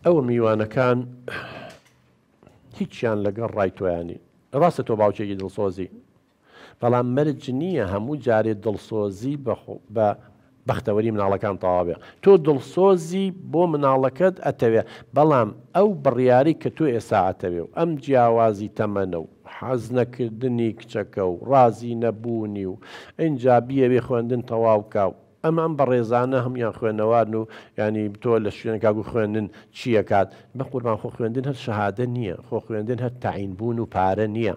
ئەوە میوانەکان هیچیان لەگەڵ ڕای تۆیانی ڕاستە تۆ باوکێکی دڵسۆزی بەڵام مەرج نییە هەموو جارێ دڵسۆزی بە بەختەوەری مناڵەکان تەواوێ تۆ دڵسۆزی بۆ مناڵەکەت ئەتەوێ بەڵام ئەو بڕیاری کە تۆ ئێستا ئەتەوێ و ئەم جیاوازی تەمەنە و حەز نەکردنی کچەکە و ڕازی نەبوونی و ئەجا بیەوێ خوێندن تەواوکە و ئەم ئەم بەڕێزانە هەموویان خوێنەوارن و یانی تۆ لە شوێنێکا گو خوێندن چی ئەکات بەقوربان خۆ خوێندن هەر شەهادە نییە خۆ خوێندن هەر تەعین بوون و پارە نییە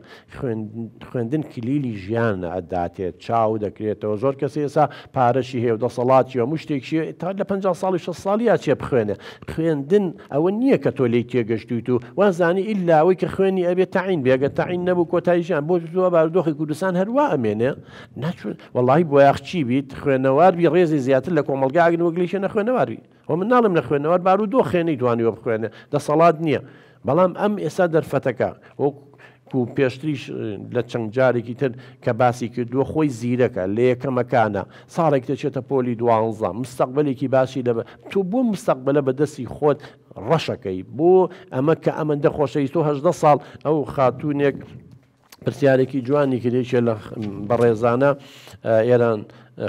خوێندن کلیلی ژیانە ئەتداتێت چاو دەکرێتەوە زۆر کەس ئێسا پارەشی هەیە و دەسەڵاتی و هەموو شتێکشی تا لە پەنجا ساڵی شەست ساڵی ئەچێ بخوێنێ خوێندن ئەوە نییە کە تۆ لێی تێگەشتوویت و وازانی ئیلا ئەوەی کە خوێنی ئەبێ تەعین بێ گەر تەعین نەبوو کۆتای ژیان بۆ بارودۆخی کوردستان هەر وا ئەمێنێ نەچوون وەڵی بۆیاخ چی بیت خوێنەوار بی ڕێزی زیاتر لە کۆمەلگا ئەگن وەگلیشە نەخوێنەواری و من ناڵم لە خوێنەوار بارو دۆ خێنەی توانیوە بخوێنە دەسەڵات نییە بەڵام ئەم ئێستا دەرفەتەکە وەک و پێشتریش لە چەند جارێکی تر کە باسی کردووە خۆی زیرەکە لە یەکەمەکانە ساڵێک دەچێتە پۆلی دوانزە مستەقبلێکی باسی لە تۆ بۆ مستەقبلە بە دەستی خۆت ڕەشەکەی بۆ ئەمە کە ئەمەندە خۆشەویست و هەدە ساڵ ئەو خاتونێک پرسیارێکی جوانی کرد یەکێ لە بەڕێزانە ئێران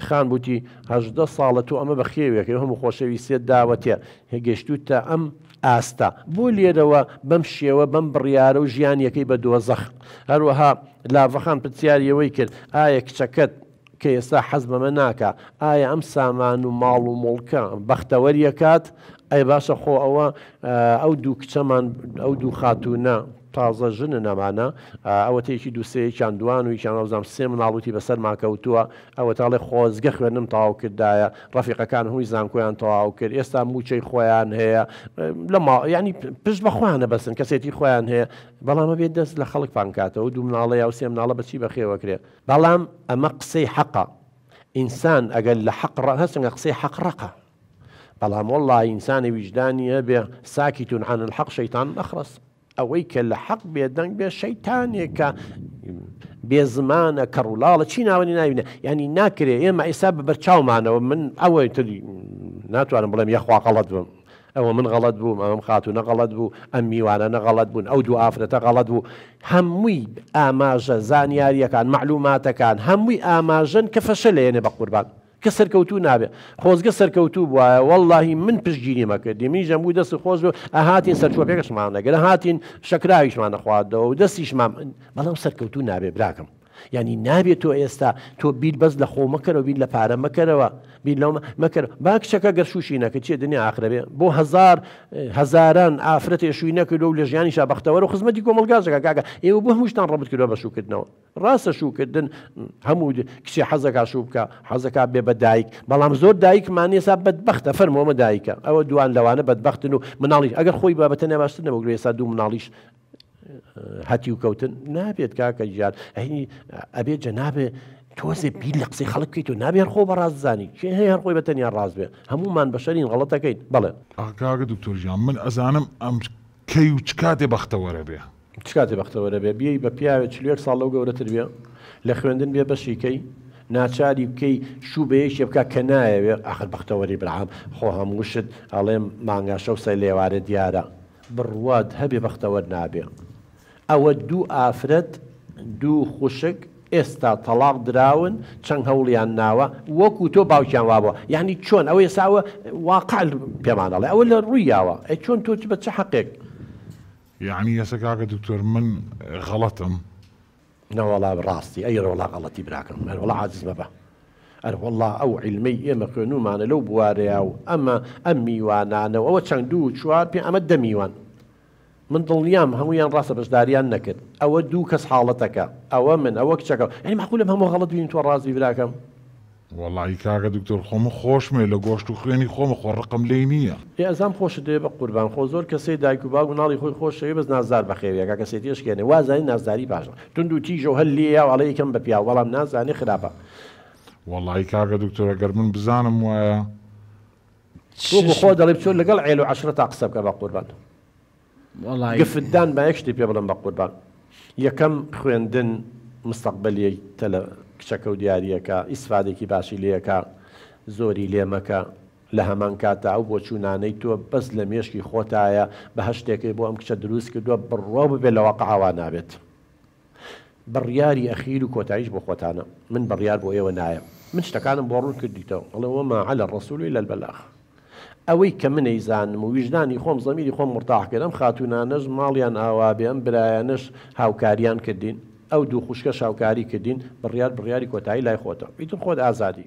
خان بوتی هەدە ساڵە تۆ ئەمە بە خێوێکی هەموو خۆشەویستێت داوەتێ هێگەشتوت تا ئەم ئاستا بۆ لێرەوە بەم شێوە بەم بڕیارە و ژیانیەکەی بە دۆزەخ هەروەها لاڤەخان پرسیاریەوەی کرد ئایا کچەکەت کە ئێستا حەز بەمە ناکا، ئایا ئەم سامان و ماڵ و موڵکە بەختەوەری ئەکات؟ ئەی باشە خۆ ئەوە ئەو دوو کچەمان، ئەو دوو خاتوونە تازە ژنن ئەمانە، ئەوەتە یەکی دوو سێ یەکیان دووان و یەکیان وابزانم سێ مناڵوتی بەسەرمان کەوتووە، ئەوەتە ئەڵێ خۆزگە خوێندنم تەواو کردایە، ڕەفیقەکان هەمووی زانکۆیان تەواو کرد، ئێستا مووچەی خۆیان هەیە، لە ما، یانی پشت بە خۆیان ئەبەستن، کەسێتی خۆیان هەیە، بەڵام ئەبێ دەست لە خەڵک پانکاتەوە، ئەو دوو مناڵەی ئەو سێ مناڵە بە چی بەخێوەکرێ؟ بەڵام ئەمە قسەی حەقە ئینسان ئەگەر لە حەق ڕە هەسنگە قسەی حەق ڕقە بەڵام والله ئینسانی ویژدانی هەبێ ساکی تون عن الحق شەیتان مەخڕس ئەوەی کە لە حەق بێدەنگ بێ شەیتانێکە بێ زمانە کە ڕوولاڵە چی ناوەنی ناوینە ینی ناکرێ ئێمە ئێستا بە بەرچاومانەوە من ئەوەی تری ناتوانم بڵێم یاخواقەڵەت بم ئەوە من غەڵەت بووم، ئەم خاتوونە غەڵەت بوو، ئەم میوانانە غەڵەت بوون، ئەو دوو ئافرەتە غەڵەت بوو، هەمووی ئاماژە، زانیارییەکان، مەعلووماتەکان، هەمووی ئاماژەن کە فەشەلێنێ بە قوربان، کە سەرکەوتوو نابێ، خۆزگە سەرکەوتوو بوایە، وەڵڵاهی من پشتگیرییم ئەکردی، منیش ئەمگوو دەست خۆش بێ، ئەهاتین سەرچۆپێکشمان ئەگرت، ئەهاتین شەکراویشمان ئەخواردەوە و دەستیشمان، بەڵام سەرکەوتوو نابێ براکەم. یانی نابێت تۆ ئێستا تۆ بیر بەس لە خۆ مەکەرەوە بیر لە پارە مەکەرەوە بیر لەو مەکەر با کچەکە گەر شووشی نەکە چێ دنیا ئاخرەبێ بۆ هزار هزاران ئافرەتێ شووی نەکردو لە ژیانی شا بەختەوەر و خزمەتی کۆمەلگازەکە کاکە ئێوە بۆ هەمووشتان ڕبت کردوە بە شوکردنەوە ڕاستە شوکردن هەموو کچێ حەزەکە شوو بکە حەزەکە بێ بە دایک بەڵام زۆر دایکمان ێسا بەدبختە فەرمۆمە دایکە ئەوە دوان لەوانە بەدبختن و مناڵیش ئەگەر خۆی بابەتەنە باشتر نەبگرێ ئێستا دوو مناڵیش هەتیو کەوتن نابێت کاکە گیان ئەینی ئەبێت جە نابێ تۆزێ بیر لە قسەی خەڵک بکەیت و نابێت خۆ بە ڕاززانی چێ هەیە هەر خۆی بە تەنیا ڕاز بێ هەمومان بەشەرین غڵەتەکەیت بڵێ ئاکاگە دکتۆر گیان من ئەزانم ئەم کەی و چ کاتێ بەختەوەرە بێ. چ کاتێ بەختەوەرە بێ بێی بە پیاوێ چل و یەک ساڵ لەو گەورەتر بێ لە خوێندن بێ بەشی کەی ناچاری بکەی شوو بە یەکێ بکە کە نایەوێ ئاخر بەختەوەری برام خۆ هەموو شت ئەڵێم مانگاشە و سەی لێوارێ دیارە بڕوات هەبێ بەختەوەر نابێ ئەوە دوو ئافرەت دوو خوشک ئێستا تەڵاق دراون چەن هەوڵیان ناوە وەکو تۆ باوکیان وابوە یەعنی چۆن ئەوە ئێستا ئەوە واقع پێمان ئەڵێ ئەوە لە ڕوویاوە ئەی چۆن تۆ بە چ حەقێک یەعنی ئێستا کاکە دکتۆر من غەڵەتم نەوەڵا ڕاستی ئەی ڕۆڵا غەڵەتی براکەم ئەرۆڵا عاجز مەبە ئەرۆڵا ئەو عیلمەی ئێمە خوێنومانە لەو بوارەیا و ئەمە ئەم میوانانە و ئەوە چەند دوو و چوار پێ ئەمە دە میوان من دڵنیام هەمویان ڕاستە بەشداریان نەکرد ئەوە دوو کەس حاڵەتەکە ئەوە من ئەوە کچەکە ئەی مەحقولم هەموو غەڵەت بین تۆ ڕاست بی براکەم. وەڵایی کاکە دکتۆر خۆ من خۆشمەوێ لە گۆشت و خوێنی خۆمە خۆ ڕقم لێی نییە. ئێ ئەزام خۆشت دەوێ بە قوربان خۆ زۆر کەسەی دایک و باوک مناڵی خۆی خۆش دەوێ بەس نازدار بەخێویە کاکە سێتی ئەشکێنێ وا ئەزانی نازداری باش توند و تیژە و هەر لێیە و ئەڵێ ئیکەم بە پیاو بەڵام نازانێ خراپە. وەڵایی کاکە دکتۆر گەر من بزانم وایە. وەکو خۆت دەڵێی بچۆ لەگەڵ عێل و عەشرەتا قسە بکە بە قوربان. گفت دان با یەک شتی پێ بڵێم بەقوربان یەکەم خوێندن مستەقبەلیی تە لە کچەکە و دیارییەکە ئیسفادەیکی باشی لێکە زۆری لێ مەکە لە هەمان کاتدا ئەو بۆچوونانەی تۆ بەس لە مێشکی خۆتایە بە هەشتێکەی بۆ ئەم کچە دروست کردووە بڕوا ببێ لە واقع ئاوا نابێت بڕیاری ئەخیر و کۆتاییش بۆ خۆتانە، من بڕیار بۆ ئێوە نایەم. من شتەکانم بۆ ڕوون کردیتەوە، ئەڵێ، وما علی الرسول الا البلاغ. ئەوەی کە من ئەیزانم و ویژدانی خۆم، زەمیری خۆم مورتاح کرد، ئەم خاتوونانەش ماڵیان ئاوا بێ، ئەم برایانەش هاوکاریان کردین، ئەو دوو خوشکەش هاوکاری کردین، بڕیار بڕیاری کۆتایی لای خۆتە، ئیتر خۆت ئازادی.